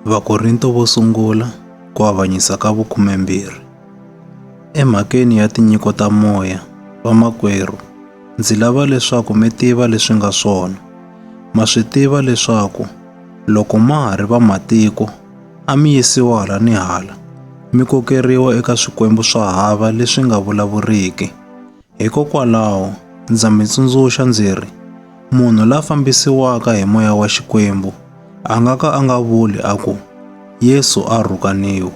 Vakorinto vo sungula ku avanyisa ka vukhumembirhi. Emhakeni ya tinyiko ta moya, vamakwerhu, ndzi lava leswaku mi tiva leswi nga swona. Ma swi tiva leswaku loko ma ha ri vamatiko, a mi yisiwa hala ni hala, mi kokeriwa eka swikwembu swa hava leswi nga vulavuriki. Hikokwalaho, ndza mi tsundzuxa ndzi ri, munhu la fambisiwaka hi moya wa Xikwembu a nga ka a nga vuli a ku, Yesu a rhukaniwe,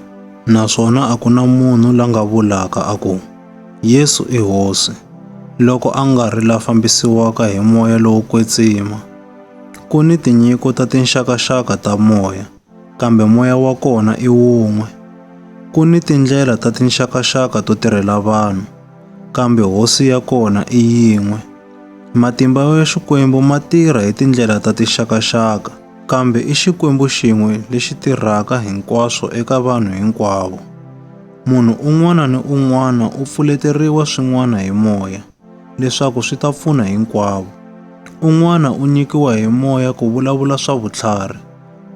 naswona a ku na munhu la nga vulaka a ku, Yesu i hosi, loko a nga ri la fambisiwaka hi moya lowo kwetsima. Ku ni tinyiko ta tinxakaxaka ta moya. kambe moya wa kona i wun'we. Ku ni tindlela ta tinxakaxaka to tirhela vanhu, kambe hosi ya kona i yin'we. Matimba ya Xikwembu ma tirha hi tindlela ta tinxakaxaka, kambe i Xikwembu xin'we lexi tirhaka hinkwaswo eka vanhu hinkwavo. Munhu un'wana ni un'wana u pfuleteriwa swin'wana hi moya. leswaku swi ta pfuna hinkwavo. Un'wana u nyikiwa hi moya ku vulavula swa vutlhari,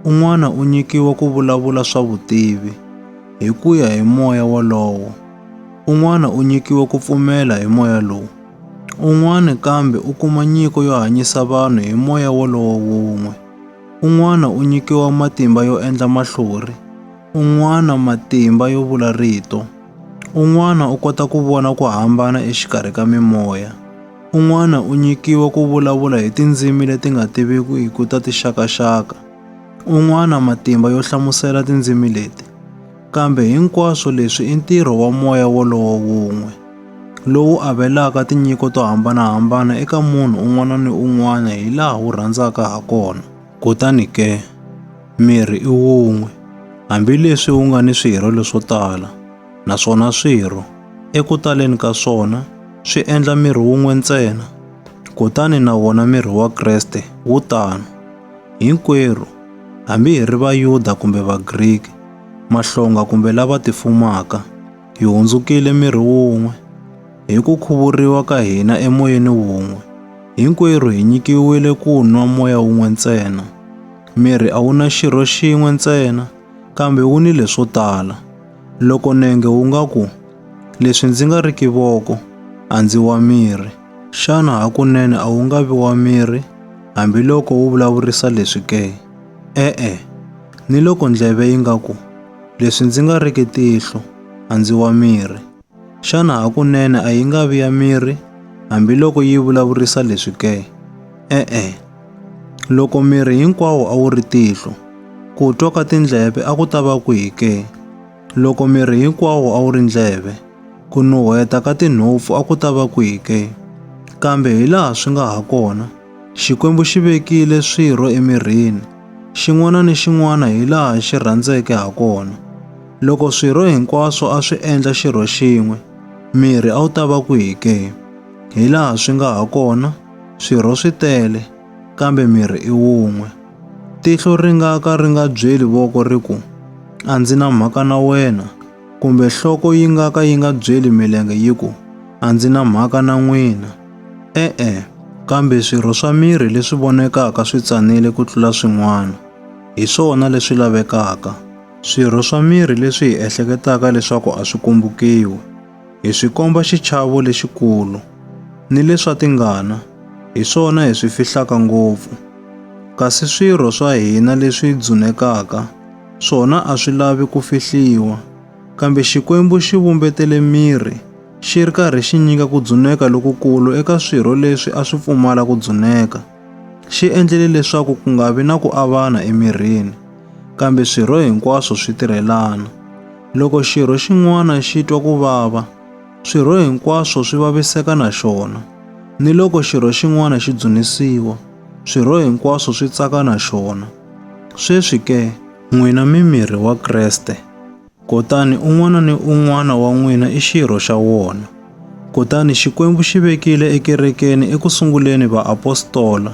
un'wana u nyikiwa ku vulavula swa vutivi hi ku ya hi moya wolowo, un'wana u nyikiwa ku pfumela hi moya lowu, un'wana kambe u kuma nyiko yo hanyisa vanhu hi moya wolowo wun'we, un'wana u nyikiwa matimba yo endla mahlori, un'wana matimba yo vula rito. Un'wana u kota ku vona ku hambana exikarhi ka mimoya. Un'wana u nyikiwa ku vulavula hi tindzimi leti nga tivikiku ta tixakaxaka. Un'wana matimba yo hlamusela tindzimi leti. Kambe hinkwaswo leswi i ntirho wa moya wolowo wun'we, lowu avelaka tinyiko to hambanahambana eka munhu un'wana ni un'wana hi laha wu rhandzaka ha kona. Kutani ke, miri i wun'we, hambi leswi wu nga ni swirho leswo tala, naswona swirho, eku taleni ka swona, swi endla miri wun'we ntsena. Kutani na wona miri wa Kreste wu tano. Hinkwerhu, hambi hi ri Vayuda kumbe Vagriki, mahlonga kumbe lava tifumaka, hi hundzukile miri wun'we hi ku khuvuriwa ka hina emoyeni wun'we hinkwerhu hi nyikiwile ku nwa moya wun'we ntsena miri a wu na xirho xin'we ntsena kambe wu ni leswo tala loko nenge wu nga ku leswi ndzi nga ri kivoko a ndzi wa miri xana hakunene a wu nga vi wa miri hambiloko wu vulavurisa leswi ke e-e ni loko ndleve yi nga ku Leswi ndzi nga riki tihlo, a ndzi wa miri. Xana hakunene a yi nga vi ya miri, hambiloko yi vulavurisa leswi ke? E-e. Loko miri hinkwawo a wu ri tihlo, ku twa ka tindleve a ku ta va kwihi ke? Loko miri hinkwawo a wu ri ndleve, ku nuheta ka tinhompfu a ku ta va kwihi ke? Kambe hi laha swi nga ha kona, Xikwembu xi vekile swirho emirini, xin'wana ni xin'wana hi laha xi rhandzeke ha kona. Loko swirho hinkwaswo a swi endla xirho xin'we, miri a wu ta va kwihi ke? Hi laha swi nga ha kona, swirho swi tele, kambe miri i wun'we. Tihlo ri nga ka ri nga byeli voko ri ku, A ndzi na mhaka na wena, Kumbe nhloko yi nga ka yi nga byeli milenge yi ku, A ndzi na mhaka na n'wina. E-e, kambe swirho swa miri leswi vonekaka swi tsanile ku tlula swin'wana. Hi swona leswi lavekaka. Swirho swa miri leswi hi ehleketaka leswaku a swi kumbukiwi. Hi swi komba xichavo lexikulu. Ni leswa tingana, hi swona hi swi fihlaka ngopfu. Kasi swirho swa hina leswi dzunekaka, swona a swi lavi ku fihliwa. Kambe Xikwembu xi vumbetele miri, xi ri karhi xi nyika ku dzuneka lokukulu eka swirho leswi a swi pfumala ku dzuneka. Xi endlele leswaku ku nga vi na ku avana emirini, kambe swirho hinkwaswo swi tirhelana. Loko xirho xin'wana xi twa ku vava, swirho hinkwaswo swi vaviseka na xona. Ni loko xirho xin'wana xi dzunisiwa, swirho hinkwaswo swi tsaka na xona. Sweswi ke, n'wina mi miri wa Kreste, kutani un'wana ni un'wana wa n'wina i xirho xa wona. Kutani Xikwembu xi vekile ekerekeni eku sunguleni vaapostola,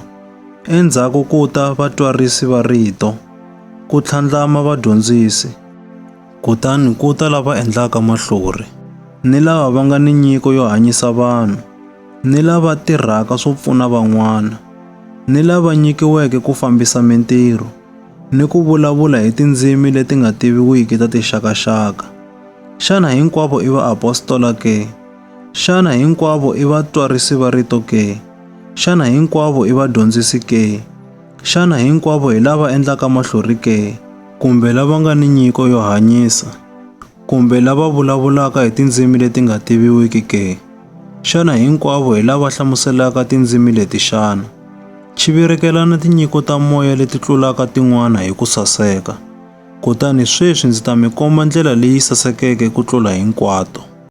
endzhaku ku ta vatwarisi va rito, ku tlhandlama vadyondzisi, kutani ku ta lava endlaka mahlori, ni lava va nga ni nyiko yo hanyisa vanhu. ni lava tirhaka swo pfuna van'wana, ni lava nyikiweke ku fambisa mintirho, ni ku vulavula hi tindzimi leti nga tiviwiki ta tixakaxaka. Xana hinkwavo i vaapostola ke? Xana hinkwavo i vatwarisi va rito ke? Xana hinkwavo i vadyondzisi ke? Xana hinkwavo hi lava endlaka mahlori ke? Kumbe lava nga ni nyiko yo hanyisa? Kumbe lava vulavulaka hi tindzimi leti nga tiviwiki ke? Xana hinkwavo hi lava hlamuselaka tindzimi leti xana? Chivirekelana tinyiko ta moya leti tlulaka tin'wana hi ku saseka. Kutani sweswi ndzi ta mi komba ndlela leyi sasekeke ku tlula hinkwato.